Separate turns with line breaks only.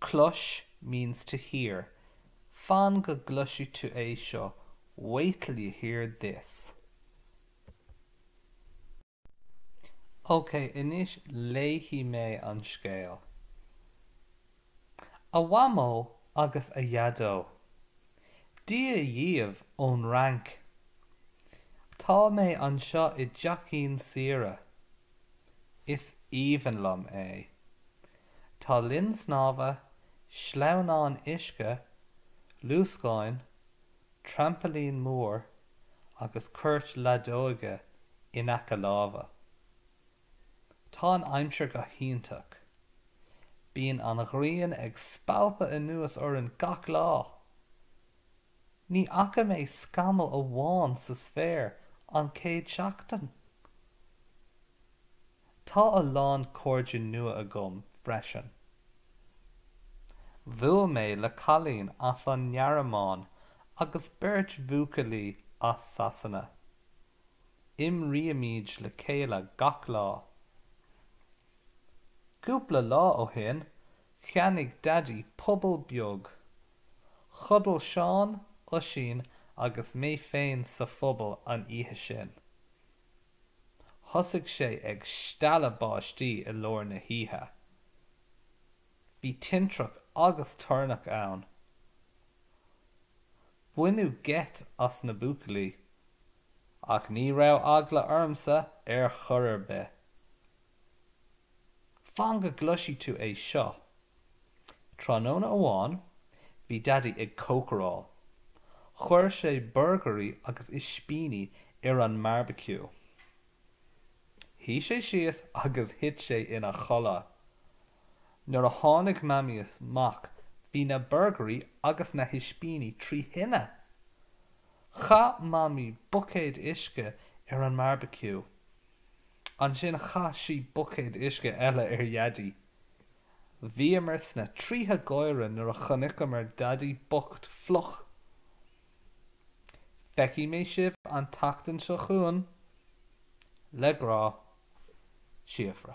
Clois means to hear. Fan go gcloisfidh tú é seo, wait till you hear this. Ok, anois léifidh mé an scéal. A Mhamó agus a Dhaideo. Dia dhíobh ón Fhrainc. Tá mé anseo i dteachín saoire. Is aoibhinn liom é. Tá linn snámha, sleamhnáin uisce, luascáin, trampailín mór agus cúirt leadóige in aice láimhe. Tá an aimsir go hiontach. Bíonn an ghrian ag spalpadh anuas orainn gach lá! Ní fhaca mé scamall amháin sa spéir an chéad seachtain! Tá a lán cairde nua agam freisin. Bhuail mé le cailín as an nGearmáin agus beirt bhuachaillí as Sasana. Imrímid le chéile gach lá. Cúpla lá ó shin cheannaigh Daidí puball beag. Chodail Seán, Oisín agus mé féin sa phuball an oíche sin. Thosaigh sé ag stealladh báistí i lár na hoíche. Bhí tintreach agus toirneach ann. Baineadh geit as na buachaillí. Ach ní raibh eagla ormsa ar chor ar bith. Fan go gcloisfidh tú é seo. Tráthnóna amháin bhí Daidí ag cócaráil. Chuir sé burgairí agus ispíní ar an mbeárbaiciú. Shuigh sé síos agus thit sé ina chodladh. Nuair a tháinig Mamaí amach bhí na burgairí agus na hispíní trí thine. Chaith Mamaí buicéad uisce ar an mbeárbaiciú. Ansin chaith sí buicéad uisce eile ar Dhaidí. Bhíomar sna tríthe gáire nuair a chonaiceamar Daidí bocht fliuch. Feicfidh mé sibh an tseachtain seo chugainn. Le grá. Síofra.